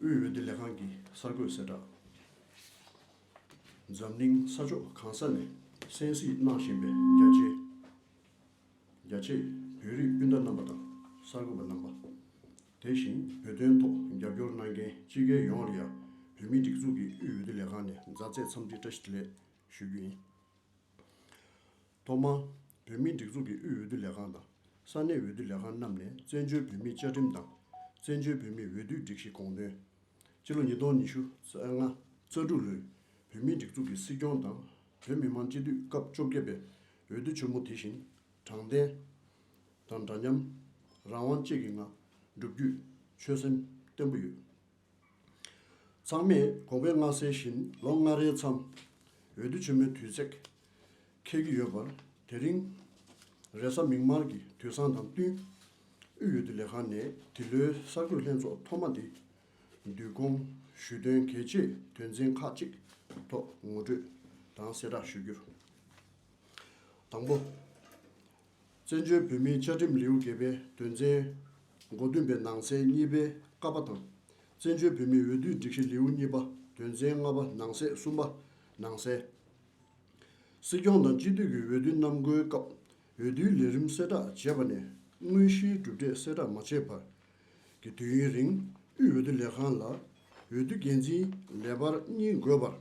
དབུས་འོས་བསྡུ་ལས་ཁང་གི་གསར་འགོད་གསལ་བསྒྲགས། འཛམ་གླིང་ས་ཕྱོགས་གང་ས་ནས་གསན་གཟིགས་གནང་བཞིན་པའི་རྒྱ་ཆེ་རྒྱ་ཆེ་བོད་རིགས་སྤུན་ཟླ་རྣམ་པ་དང་གསར་འགོད་པ་རྣམ་པ། དེ་བཞིན་བོད་དོན་ཐོག་རྒྱབ་སྐྱོར་གནང་མཁན་སྤྱི་སྒེར་ཡོངས་ལ་ཡང་བོད་མིའི་སྒྲིག་འཛུགས་ཀྱི་དབུས་འོས་བསྡུ་ལས་ཁང་ནས་མཛའ་བརྩེ་འཚམས་འདྲི་བཀྲ་ཤིས་བདེ་ལེགས་ཞུ་རྒྱུ་ཡིན། ཐོག་མར། བོད་མིའི་སྒྲིག་འཛུགས་ཀྱི་དབུས་འོས་བསྡུ་ལས་ཁང་དང་ས་གནས་འོས་བསྡུ་ལས་ཁང་རྣམས་ནས་བཙན་བྱོལ་བོད་མིའི་བཅའ་ཁྲིམས་དང། བཙན་བྱོལ་བོད་མིའི་འོས་བསྡུའི་སྒྲིག་གཞི་དགོངས་དོན། སྤྱི་ལོ་ཉིས་སྟོང་ཉི་ཤུ་རྩ་ལྔ་རྩ་དྲུག་ལོའི་བོད་མིའི་སྒྲིག་འཛུགས་ཀྱི་སྲིད་སྐྱོང་དང་བོད་མི་མང་སྤྱི་འཐུས་སྐབས་བཅོ་བརྒྱད་པའི་འོས་བསྡུ་ཆེན་མོ་དེ་བཞིན་དྲང་བདེན། དང་འདྲ་མཉམ། རང་དབང་བཅས་ཀྱི་ངང་བསྒྲུབ་རྒྱུའི་ཆོད་སེམས་བརྟན་པོ་ཡོད། ཚང་མས་གོང་འཕེལ་མངའ་གསལ་བཞིན་ལོ་ལྔ་རེའི་མཚམས་འོས་བསྡུ་ཆེན་མོའི་དུས་ཚེགས་འཁེལ་གྱི་ཡོད་པར་དེ་རིང་རེས་གཟའ་མིག་དམར་གྱི་དུས་བཟང་དང་བསྟུན་དབུས་འོས་བསྡུ་ལས་ཁང་ནས་འདི་ལོའི་གསར་འགོད་ལྷན་ཚོགས་ཐོག་མ་འདི་བསྡུས་སྐོང་ཞུས་དོན་གལ་ཆེའི་དོན་ཚན་ཁག་གཅིག་ཐོག་ངོ་སྤྲོད་དང་གསལ་བསྒྲགས་ཞུ་རྒྱུ། དང་པོ། བཙན་བྱོལ་བོད་མིའི་བཅའ་ཁྲིམས་ལེའུ་བརྒྱད་པའི་དོན་ཚན་མགོ་བདུན་པའི་ནང་གསེས་གཉིས་པའི་ཀ་པ་དང། བཙན་བྱོལ་བོད་མིའི་འོས་བསྡུའི་སྒྲིག་གཞི་ལེའུ་གཉིས་པ་དོན་ཚན་ལྔ་པ་ནང་གསེས་གསུམ་པ་ནང་གསལ། སྲིད་སྐྱོང་དང་སྤྱི་འཐུས་ཀྱི་འོས་བསྡུ་གནམ་བསྐོའི་སྐབས་འོས་བསྡུའི་ལས་རིམ་གསལ་བསྒྲགས་བྱས་པ་ནས་དངོས་གཞིའི་གྲུབ་འབྲས་གསལ་བསྒྲགས་མ་བྱས་བར་གྱི་དུས་ཡུན་རིང་དབུས་འོས་བསྡུ་ལས་ཁང་ལ་འོས་བསྡུ་འགན་འཛིན་ལས་འབར་གཉིས་འགོད་པར་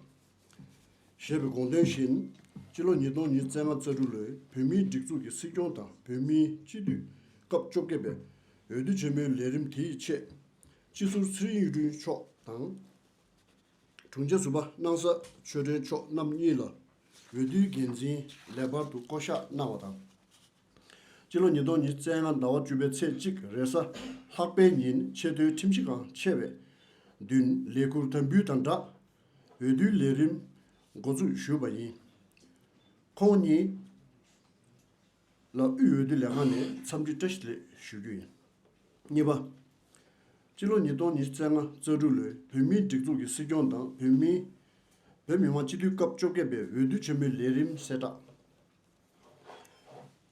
ཞེས་པའི་དགོངས་དོན་བཞིན། སྤྱི་ལོ་ཉིས་སྟོང་ཉིས་བརྩེགས་ལྔ་རྩ་དྲུག་ལོའི་བོད་མིའི་སྒྲིག་འཛུགས་ཀྱི་སྲིད་སྐྱོང་དང་བོད་མིའི་སྤྱི་འཐུས་སྐབས་བཅོ་བརྒྱད་པའི་འོས་བསྡུ་ཆེན་མོའི་ལས་རིམ་དེའི་ཆེད། སྤྱི་ཟུར་ཚེ་རིང་གཡུ་སྒྲོན་མཆོག་དང། དྲུང་ཆེ་ཟུར་པ་སྣང་ས་ཆོས་སྒྲོན་མཆོག་རྣམ་གཉིས་ལ་འོས་བསྡུའི་འགན་འཛིན་ལས་འབར་དུ་བསྐོ་གཞག་གནང་བ་དང། སྤྱི་ལོ་ཉིས་སྟོང་ཉིས་བརྩེགས་ལྔ་ཟླ་བ་བཅུ་པའི་ཚེས་གཅིག་རེས་གཟའ་ལྷག་པའི་ཉིན་ཆེས་མཐོའི་ཁྲིམས་གཞི་འགངས་ཆེ་བའི་བདུན་ལས་ཁུར་དམ་འབུལ་དང་སྦྲགས་འོས་བསྡུའི་ལས་རིམ་འགོ་འཛུགས་ཞུས་པ་ཡིན། ཁོང་གཉིས་ལ་དབུས་འོས་བསྡུ་ལས་ཁང་ནས་འཚམས་འདྲི་བཀྲ་ཤིས་ལེགས་ཞུ་རྒྱུ་ཡིན། གཉིས་པ། སྤྱི་ལོ་ཉིས་སྟོང་ཉིས་བརྩེགས་ལྔ་རྩ་དྲུག་ལོའི་བོད་མིའི་སྒྲིག་འཛུགས་ཀྱི་སྲིད་སྐྱོང་དང་བོད་མི་དབང་སྤྱི་འཐུས་སྐབས་བཅོ་བརྒྱད་པའི་འོས་བསྡུ་ཆེན་མོའི་ལས་རིམ་གསལ་བསྒྲགས།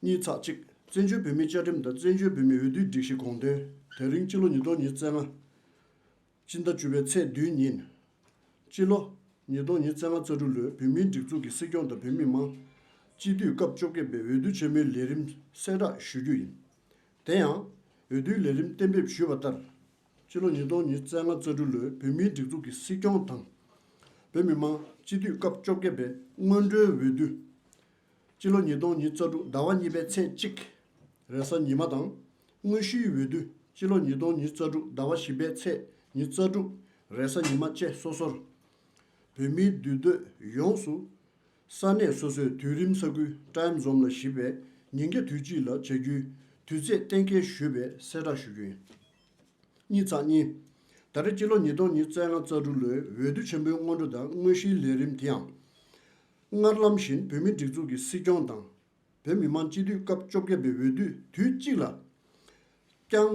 གཉིས་ཚགས་གཅིག་བཙན་བྱོལ་བོད་མིའི་བཅའ་ཁྲིམས་དང་བཙན་བྱོལ་བོད་མིའི་འོས་བསྡུའི་སྒྲིག་གཞི་དགོངས་དོན་དེ་རིང་སྤྱི་ལོ་ཉིས་སྟོང་ཉིས་བརྩེགས་ལྔ། སྤྱི་ཟླ་བཅུ་པའི་ཚེས་བདུན་ཉིན། སྤྱི་ལོ་ཉིས་སྟོང་ཉིས་བརྩེགས་ལྔ་རྩ་དྲུག་ལོའི་བོད་མིའི་སྒྲིག་འཛུགས་ཀྱི་སྲིད་སྐྱོང་དང་བོད་མི་མང་སྤྱི་འཐུས་སྐབས་བཅོ་བརྒྱད་པའི་འོས་བསྡུ་ཆེན་མོའི་ལས་རིམ་གསལ་བསྒྲགས་ཞུ་རྒྱུ་ཡིན། དེ་ཡང། འོས་བསྡུའི་ལས་རིམ་གཏན་འབེབས་ཞུས་པ་ལྟར། ཕྱི་ལོ་ཉིས་སྟོང་ཉིས་བརྩེགས་ལྔ་རྩ་དྲུག་ལོའི་བོད་མིའི་སྒྲིག་འཛུགས་ཀྱི་སྲིད་སྐྱོང་དང། བོད་མི་མང་སྤྱི་འཐུས་སྐབས་བཅོ་བརྒྱད་པའི་སྔོན་འགྲོའི་འོས་བསྡུ། ཕྱི་ལོ་ཉིས་སྟོང་ཉིས་རྩ་དྲུག་ཟླ་བ་གཉིས་པའི་ཚེས་གཅིག་རེས་གཟའ་ཉི་མ་དང་དངོས་གཞིའི་འོས་བསྡུ་ཕྱི་ལོ་ཉིས་སྟོང་ཉིས་རྩ་དྲུག་ཟླ་བ་བཞི་པའི་ཚེས་ཉིས་རྩ་དྲུག་རེས་གཟའ་ཉི་མ་བཅས་སོ་སོར་བོད་མིའི་འདུས་སྡོད་ཡོངས་སུ་ས་གནས་སོ་སོས་དུས་རིམ་ས་ཁུལ Time Zone ལ་གཞིགས་པའི་ཉིན་བརྒྱ་དུས་གཅིག་ལ་བྱ་རྒྱུའི་དུས་ཚེས་གཏན་འཁེལ་ཞུས་པའི་གསལ་བསྒྲགས་ཞུ་རྒྱུ་ཡིན། གཉིས་ཚགས་གཉིས། ད་རེས་སྤྱི་ལོ་ཉིས་སྟོང་ཉིས་བརྩེགས་ལྔ་རྩ་དྲུག་ལོའི་འོས་བསྡུ་ཆེན་པོའི་སྔོན་འགྲོ་དང་དངོས་གཞིའི་ལས་རིམ་དེའང། སྔར་ལམ་བཞིན་བོད་མིའི་སྒྲིག་འཛུགས་ཀྱི་སྲིད་སྐྱོང་དང། བོད་མི་མང་སྤྱི་འཐུས་སྐབས་བཅོ་བརྒྱད་པའི་འོས་བསྡུ་དུས་གཅིག་ལ་བསྐྱང།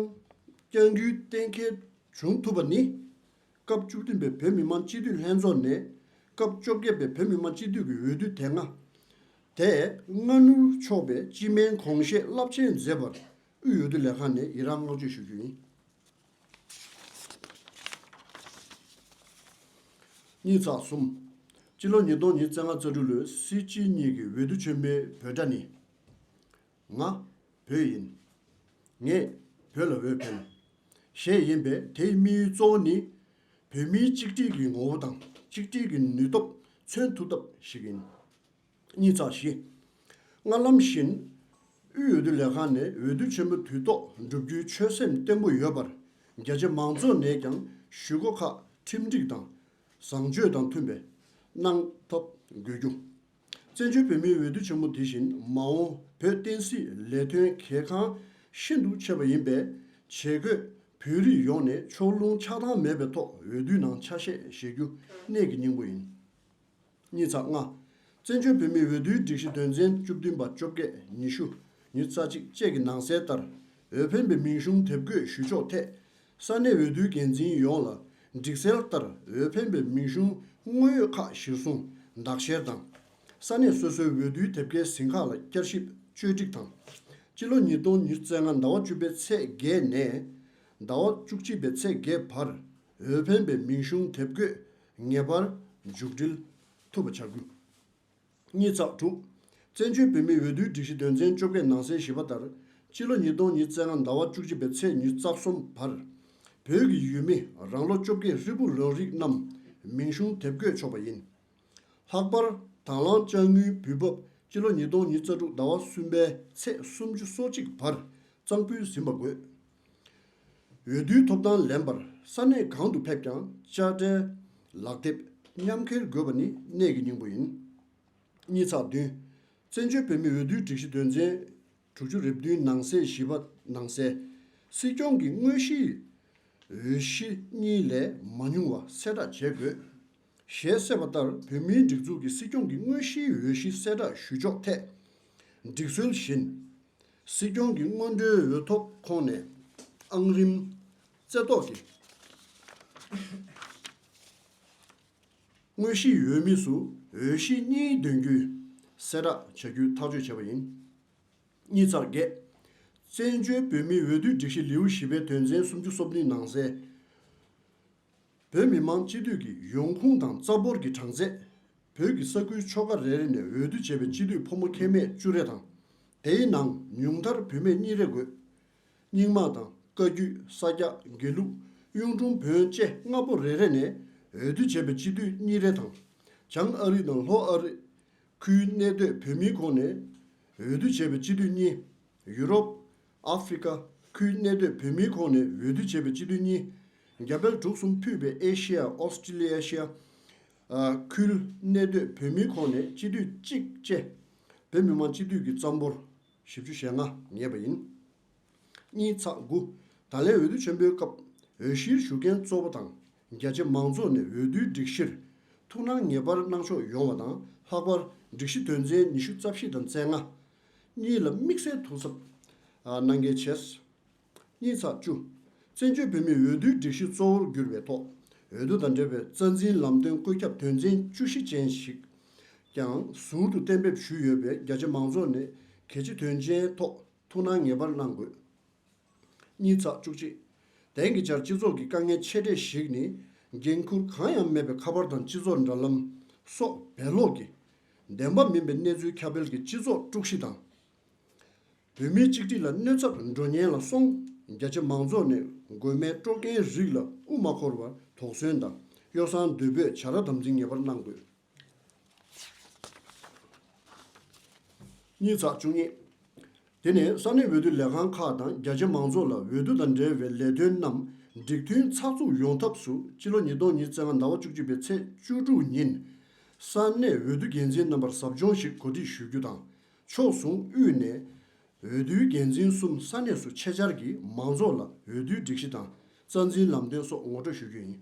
བསྐྱང་རྒྱུའི་གཏན་འཁེལ་བྱུང་ཐུབ་པ་ནི། སྐབས་བཅུ་བདུན་པའི་བོད་མི་མང་སྤྱི་འཐུས་ལྷན་ཚོགས་ནས། སྐབས་བཅོ་བརྒྱད་པའི་བོད་མི་མང་སྤྱི་འཐུས་ཀྱི་འོས་བསྡུ་དེ་སྔ། དེ་སྔ་ནུབ་ཕྱོགས་པའི་སྤྱི་སྨན་གོང་བཤད་རླབས་ཆེན་མཛད་པར་དབུས་འོས་བསྡུ་ལས་ཁང་ནས་ཡི་རངས་བསྔགས་བརྗོད་ཞུ་རྒྱུ་ཡིན། གཉིས་ཚགས་གསུམ། སྤྱི་ལོ་ཉིས་སྟོང་ཉིས་བརྩེགས་ལྔ་རྩ་དྲུག་ལོའི་སྲིད་སྤྱི་གཉིས་ཀྱི་འོས་བསྡུ་ཆེན་མོའི་འབོད་སྒྲ་ནི། ང་བོད་ཡིན། ངས་བོད་ལ་འོས་འཕེན། ཞེས་ཡིན་པས་དེའི་དམིགས་ཡུལ་གཙོ་བོ་ནི། བོད་མིའི་གཅིག་སྒྲིལ་གྱི་ངོ་བོ་དང་གཅིག་སྒྲིལ་གྱི་ནུས་སྟོབས་མཚོན་ཐུབ་ཐབས་ཤིག་ཡིན། གཉིས་ཚགས་བཞི། སྔར་ལམ་བཞིན། དབུས་འོས་བསྡུ་ལས་ཁང་ནས་འོས་བསྡུ་ཆེན་མོ་དུས་ཐོག་བསྒྲུབ་རྒྱུའི་ཆོད་སེམས་བརྟན་པོ་ཡོད་པར། རྒྱ་ཆེ་མང་ཚོགས་ནས་ཀྱང་ཞུ་སྒོ་ཁག་ཁྲིམས་སྒྲིག་དང་བཟང་སྤྱོད་དང་མཐུན་པའི་གནང་ཐབས་དགོས་རྒྱུ། བཙན་བྱོལ་བོད་མིའི་འོས་བསྡུ་ཆེན་མོ་འདི་བཞིན་མ་འོངས་བོད་བསྟན་སྲིད་ལས་དོན་གལ་འགངས་ཤིན་ཏུ་ཆེ་བ་ཡིན་པས་ཇེ་དགོས་བོད་རིགས་ཡོངས་ནས་ཕྱོགས་ལྷུང་ཆགས་སྡང་མེད་པའི་ཐོག་འོས་བསྡུའི་ནང་ཆ་ཤས་བཞེས་རྒྱུ་གནད་ཀྱི་སྙིང་པོ་ཡིན། གཉིས་ཚགས་ལྔ། བཙན་བྱོལ་བོད་མིའི་འོས་བསྡུའི་སྒྲིག་གཞི་དོན་ཚན་བཅུ་བདུན་པ་བཅོ་བརྒྱད་ཉི་ཤུ་ཉི་རྩ་གཅིག་བཅས་ཀྱི་ནང་གསལ་ལྟར་འོས་འཕེན་པའི་མིང་གཞུང་དེབ་འགོད་ཞུ་ཕྱོགས་ཐད་ས་གནས་འོས་བསྡུའི་འགན་འཛིན་ཡོངས་ལ་སྒྲིག་གསལ་ལྟར་འོས་འཕེན་པའི་མིང་གཞུང་དངོས་ཡོད་ཁག་གཞིར་བཟུང་འདག་བཤེར་དང། ས་གནས་སོ་སོའི་འོས་བསྡུའི་དེབ་སྐྱེལ་ཟིན་ཁག་ལ་བསྐྱར་ཞིབ་བཅོས་སྒྲིག་དང། སྤྱི་ལོ་ཉིས་སྟོང་ཉིས་བརྩེགས་ལྔ་ཟླ་བ་བཅུ་པའི་ཚེས་བརྒྱད་ནས་ཟླ་བ་བཅུ་གཅིག་པའི་ཚེས་བརྒྱད་བར་འོས་འཕེན་པའི་མིང་གཞུང་དེབ་འགོད་ངེས་པར་མཇུག་སྒྲིལ་ཐུབ་པ་བྱ་དགོས། གཉིས་བརྩེགས་དྲུག། བཙན་བྱོལ་བོད་མིའི་འོས་བསྡུའི་སྒྲིག་གཞི་དོན་ཚན་བཅོ་བརྒྱད་ནང་གསལ་ཞིབ་པ་ལྟར། སྤྱི་ལོ་ཉིས་སྟོང་ཉིས་བརྩེགས་ལྔ་ཟླ་བ་བཅུ་གཅིག་པའི་ཚེས་ཉུལ་རྩ་གསུམ་བར། བོད་ཀྱི་ཡུལ་མི་རང་ལོ་བཅོ་བརྒྱད་ཧྲིལ་པོ་ལོན་རིགས་རྣམས་མིང་གཞུང་དེབ་བཀོད་ཆོག་པ་ཡིན། ལྷག་པར་དྭང་བླངས་དཔྱ་དངུལ་འབུལ་འབབ་སྤྱི་ལོ་ཉིས་སྟོང་ཉིས་བརྩེགས་དྲུག་ཟླ་བ་གསུམ་པའི་ཚེས་སུམ་ཅུ་སོ་གཅིག་བར་གཙང་ཕུལ་ཟིན་པ་དགོས། འོས་བསྡུའི་ཐོབ་ཐང་ལེན་པར་ས་གནས་གང་དུ་ཕེབས་ཀྱང་དཔྱ་ཁྲལ། ལག་དེབ། མཉམ་འཁྱེར་དགོས་པ་ནི་གནད་ཀྱི་སྙིང་པོ་ཡིན། གཉིས་ཚགས་བདུན། བཙན་བྱོལ་བོད་མིའི་འོས་བསྡུའི་སྒྲིག་གཞི་དོན་ཚན་དྲུག་ཅུ་རེ་བདུན་ནང་གསེས་བཞི་པ་ནང་གསལ། སྲིད་སྐྱོང་གི་དངོས་གཞིའི་འོས་གཞི་གཉིས་ལས་མ་ཉུང་བ་གསལ་བསྒྲགས་བྱེད་དགོས། ཞེས་གསལ་བ་ལྟར་བོད་མིའི་སྒྲིག་འཛུགས་ཀྱི་སྲིད་སྐྱོང་གི་དངོས་གཞིའི་འོས་གཞི་གསལ་བསྒྲགས་ཞུ་ཕྱོགས་ཐད། སྒྲིག་སྲོལ་བཞིན། སྲིད་སྐྱོང་གི་སྔོན་འགྲོའི་འོས་ཐོབ་ཁོངས་ནས་ཨང་རིམ། རྩེ་བཏོག་གི། དངོས་གཞིའི་འོས་མི་སུ་འོས་གཞི་གཉིས་འདོན་རྒྱུའི་གསལ་བསྒྲགས་བྱ་རྒྱུའི་ཐག་གཅོད་བྱས་པ་ཡིན། གཉིས་ཚར་བརྒྱད། བཙན་བྱོལ་བོད་མིའི་འོས་བསྡུའི་སྒྲིག་གཞི་ལེའུ་བཞི་པའི་དོན་ཚན་སུམ་ཅུ་སོ་བདུན་ནང་གསལ། བོད་མི་མང་སྤྱི་འཐུས་ཀྱི་ཡོང་ཁུངས་དང་རྩ་འབོར་གྱི་གྲངས་ཚད། བོད་ཀྱི་ས་ཁུལ་ཕྱོགས་ཁག་རེ་རེ་ནས་འོས་བསྡུ་བྱས་པའི་སྤྱི་འཐུས་ཕོ་མོ་ཁྱད་མེད་བཅུ་རེ་དང། དེའི་ནང་ཉུང་མཐར་བུད་མེད་གཉིས་རེ་དགོས། རྙིང་མ་དང་བཀའ་བརྒྱུད་ས་སྐྱ་དགེ་ལུགས་གཡུང་དྲུང་བོན་བཅས་ལྔ་པོ་རེ་རེ་ནས་འོས་བསྡུ་བྱས་པའི་སྤྱི་འཐུས་གཉིས་རེ་དང། བྱང་ཨ་རི་དང་ལྷོ་ཨ་རི། ཁུལ་གནས་སྡོད་བོད་མིའི་ཁོངས་ནས་འོས་བསྡུ་བྱས་པའི་སྤྱི་འཐུས་གཉིས། ཡུ་རོབ། ཨ་ཧྥེ་རི་ཁ་ཁུལ་གནས་སྡོད་བོད་མིའི་ཁོངས་ནས་འོས་བསྡུ་བྱས་པའི་སྤྱི་འཐུས་གཉིས། རྒྱ་བལ་འབྲུག་གསུམ་ཕུད་པའི་ཨེ་ཤེ་ཡ Australasia། ཁུལ་གནས་སྡོད་བོད་མིའི་ཁོངས་ནས་སྤྱི་འཐུས་གཅིག་བཅས་བོད་མི་མང་སྤྱི་འཐུས་ཀྱི་རྩ་འབོར་བཞི་བཅུ་ཞེ་ལྔ་ངེས་པ་ཡིན། གཉིས་ཚགས་དགུ། ད་ལན་འོས་བསྡུ་ཆེན་པོའི་སྐབས་འོས་གཞིར་ཞུགས་མཁན་གཙོ་བོ་དང་རྒྱ་ཆེ་མང་ཚོགས་ནས་འོས་བསྡུའི་སྒྲིག་གཞིར་ཐུགས་སྣང་ངེས་པར་གནང་ཕྱོགས་ཡོང་བ་དང་ལྷག་པར་སྒྲིག་གཞི་དོན་ཚན་ཉི་ཤུ་རྩ་བཞི་དང་རྩེ་ལྔ། གཉིས་ལ་དམིགས་བསལ་དོ་ཟབ་གནང་གལ་ཆེ། གཉིས་ཚགས་བཅུ། བཙན་བྱོལ་བོད་མིའི་འོས་བསྡུའི་སྒྲིག་གཞི་གཙོ་བོར་གྱུར་པའི་ཐོག་འོས་བསྡུ་དང་འབྲེལ་བའི་རྩ་འཛིན་ལམ་སྟོན་བཀོད་ཁྱབ་དོན་ཚན་བཅུ་བཞི་ཅན་ཞིག་ཀྱང་ཟུར་དུ་གཏན་འབེབས་ཞུས་ཡོད་པས་རྒྱ་ཆེ་མང་ཚོགས་ནས་གལ་ཆེ་དོན་ཆེན་ཐོག་ཐུགས་སྣང་ངེས་པར་གནང་དགོས། གཉིས་ཚགས་བཅུ་གཅིག། དེང་གི་ཆར་སྤྱི་ཚོགས་ཀྱི་དཀའ་ངལ་ཆེ་གྲས་ཤིག་ནི། འགན་ཁུར་གང་ཡང་མེད་པའི་ཁ་པར་དང་སྤྱི་ཚོགས་འདྲ་ལམ་སོགས་བེད་ལོག་གིས། བདེན་པ་མིན་པའི་གནས་ཚུལ་ཁྱབ་སྤེལ་གྱིས་སྤྱི་ཚོགས་དཀྲུགས་གཤིས་དང། བོད་མིའི་གཅིག་སྒྲིལ་ལ་གནོད་ཚབ་འགྲོ་ཉེན་ལ་སོང། རྒྱ་ཆེ་མང་ཚོགས་ནས་མགོན་མེད་སྤྲོ་མཁན་རིགས་ལ་དབུ་མ་འཁོར་བར་དོགས་ཟོན་དང་གཡོ་བསྲང་འདོད་འབོད་བྱ་ར་དམ་འཛིན་ངེས་པར་གནང་དགོས། གཉིས་ཚགས་བཅུ་གཉིས། དེ་ནས་ས་གནས་འོས་བསྡུ་ལས་ཁང་ཁག་དང་རྒྱ་ཆེ་མང་ཚོགས་ལ་འོས་བསྡུ་དང་འབྲེལ་བའི་ལས་དོན་རྣམས་འགྲིག་མཐུན་ཚགས་ཚུགས་ཡོང་ཐབས་སུ་སྤྱི་ལོ་ཉིས་སྟོང་ཉིས་བརྩེགས་ལྔ་ཟླ་བ་བཅུ་གཅིག་པའི་ཚེས་བཅུ་དྲུག་ཉིན་ས་གནས་འོས་བསྡུ་འགན་འཛིན་རྣམ་པར་ཟབ་སྦྱོང་ཞིག་གོ་སྒྲིག་ཞུ་རྒྱུ་དང་ཕྱོགས་ཟུང་དབུས་ནས་འོས་བསྡུའི་འགན་འཛིན་གསུམ་ས་གནས་སུ་ཆེད་བཅར་གྱིས་མང་ཚོགས་ལ་འོས་བསྡུའི་སྒྲིག་གཞི་དང་རྩ་འཛིན་ལམ་སྟོན་སོགས་ངོ་སྤྲོད་ཞུ་རྒྱུ་ཡིན།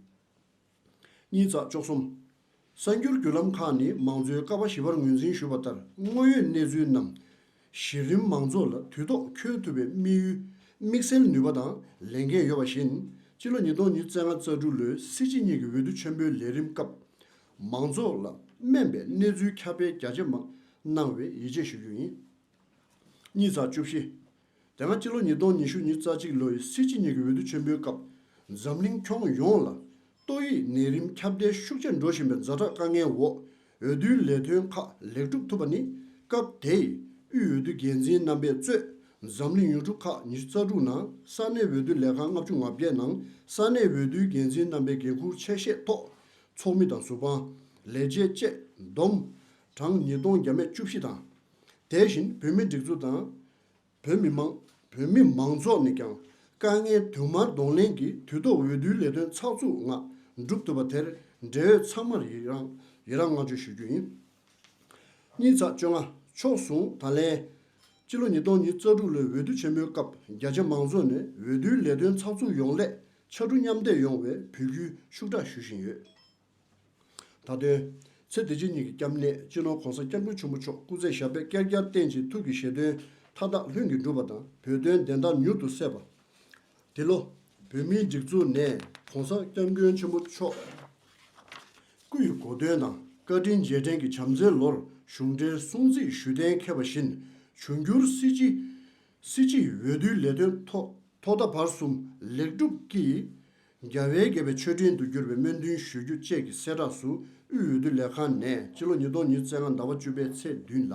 གཉིས་བརྩེགས་བཅུ་གསུམ། གསར་འགྱུར་བརྒྱུད་ལམ་ཁག་ནས་མང་གཙོའི་ཀ་བ་བཞི་པར་ངོས་འཛིན་ཞུས་པ་ལྟར་དངོས་ཡོད་གནས་ཚུལ་རྣམས་གཞི་རིམ་མང་ཚོགས་ལ་དུས་ཐོག་འཁྱོལ་ཐུབ་པའི་དམིགས་ཡུལ་དམིགས་བསལ་ནུས་པ་དང་ལས་འགན་ཡོད་པ་བཞིན་སྤྱི་ལོ་ཉིས་སྟོང་ཉིས་བརྩེགས་ལྔ་རྩ་དྲུག་ལོའི་སྲིད་སྤྱི་གཉིས་ཀྱི་འོས་བསྡུ་ཆེན་པོའི་ལས་རིམ་སྐབས་མང་ཚོགས་ལ་སྨན་པའི་གནས་ཚུལ་ཁྱབ་སྤེལ་རྒྱ་ཇེ་མང་གནང་བའི་ཡིད་ཆེས་ཞུ་རྒྱུ་ཡིན། གཉིས་བརྩེགས་བཅུ་བཞི། དེ་སྔ་སྤྱི་ལོ་ཉིས་སྟོང་ཉི་ཤུ་ཉིས་རྩ་གཅིག་ལོའི་སྲིད་སྤྱི་གཉིས་ཀྱི་འོས་བསྡུ་ཆེན་པོའི་སྐབས་འཛམ་གླིང་ཁྱོན་ཡོངས་ལ་ཏོག་དབྱིབས་ནད་རིམས་ཁྱབ་གདལ་ཤུགས་ཆེར་འགྲོ་བཞིན་པའི་འཛའ་དྲག་དཀའ་ངལ་འོག་འོས་བསྡུའི་ལས་དོན་ཁག་ལེགས་གྲུབ་ཐུབ་པ་ནི་སྐབས་དེའི་དབུས་འོས་བསྡུ་འགན་འཛིན་རྣམ་པས་གཙོས་འཛམ་གླིང་ཡུལ་གྲུ་ཁག་ཉི་ཤུ་རྩ་དྲུག་ནང་ས་གནས་འོས་བསྡུ་ལས་ཁང་ལྔ་བཅུ་ང་བརྒྱད་ནང་ས་གནས་འོས་བསྡུའི་འགན་འཛིན་རྣམ་པའི་འགན་འཁུར་ཆད་བཤད་ཐོག་ཚོགས་མི་དང་ཟུར་དཔང། ལས་བྱེད་བཅས་བསྡོམས་གྲངས་ཉིས་སྟོང་བརྒྱ་མེད་བཅུ་བཞི་དང། དེ་བཞིན་བོད་མིའི་སྒྲིག་འཛུགས་དང། བོད་མི་མང། བོད་མི་མང་ཚོགས་ནས་ཀྱང་དཀའ་ངལ་དུ་མར་གདོང་ལེན་གྱིས་དུས་ཐོག་འོས་བསྡུའི་ལས་དོན་ཚགས་ཚུགས་ངང་བསྒྲུབ་ཐུབ་པ་དེར་འབྲེལ་ཡོད་ཚང་མར་ཡི་རངས་བསྔགས་བརྗོད་ཞུ་རྒྱུ་ཡིན། གཉིས་ཚགས་བཅོ་ལྔ་ཕྱོགས་ཟུང་དང་ལེན། སྤྱི་ལོ་ཉིས་སྟོང་ཉིས་རྩ་དྲུག་ལོའི་འོས་བསྡུ་ཆེན་མོའི་སྐབས་རྒྱ་ཆེ་མང་ཚོགས་ནས་འོས་བསྡུའི་ལས་དོན་ཚགས་ཚུགས་ཡོང་སླད་ཕྱར་གྲུ་མཉམ་འདེགས་ཡོང་བའི་འབོད་སྐུལ་ཤུགས་དྲག་ཞུ་བཞིན་ཡོད། དང་བསྟུན། ཚེ་འདི་ཕྱི་གཉིས་ཀྱི་སྐྱབས་གནས་སྤྱི་ནོར ྋགོང་ས་སྐྱབས་མགོན་ཆེན་པོ་མཆོག་སྐུ་ཚེ་ཞབས་པད་བསྐལ་བརྒྱར་བརྟན་ཅིང་ཐུགས་ཀྱི་བཞེད་དོན་མཐའ་དག་ལྷུན་གྱིས་འགྲུབ་པ་དང་བོད་དོན་བདེན་མཐའ་མྱུར་དུ་གསལ་བ། འདི་ལོ། བོད་མིའི་སྒྲིག་འཛུགས་ནས ྋགོང་ས་སྐྱབས་མགོན་ཆེན་པོ་མཆོག་སྐུ་ཡི་གོ་སྟོན་དང་བཀའ་དྲིན་རྗེས་དྲན་གྱི་བྱམས་བརྩེའི་ལོར་གཞུང་འབྲེལ་གསུང་ཚིག་ཞུས་གཏན་འཁེལ་བ་བཞིན་འབྱུང་འགྱུར་སྲིད་སྤྱི་སྲིད་སྤྱི་ཡི་འོས་བསྡུའི་ལས་དོན་ཐོག་ཐོག་མཐའ་བར་གསུམ་ལེགས་གྲུབ་ཀྱིས་རྒྱ་བལ་བརྒྱད་པའི་མཆོད་སྤྲིན་དུ་གྱུར་པའི་སྨོན་འདུན་ཞུ་རྒྱུ་བཅས་ཀྱི་གསལ་བསྒྲགས་སུ་དབུས་འོས་བསྡུ་ལས་ཁང་ནས་སྤྱི་ལོ་ཉིས་སྟོང་ཉིས་བརྩེགས་ལྔ་ཟླ་བ་བཅུ་པའི་ཚེས་བདུན་ལ།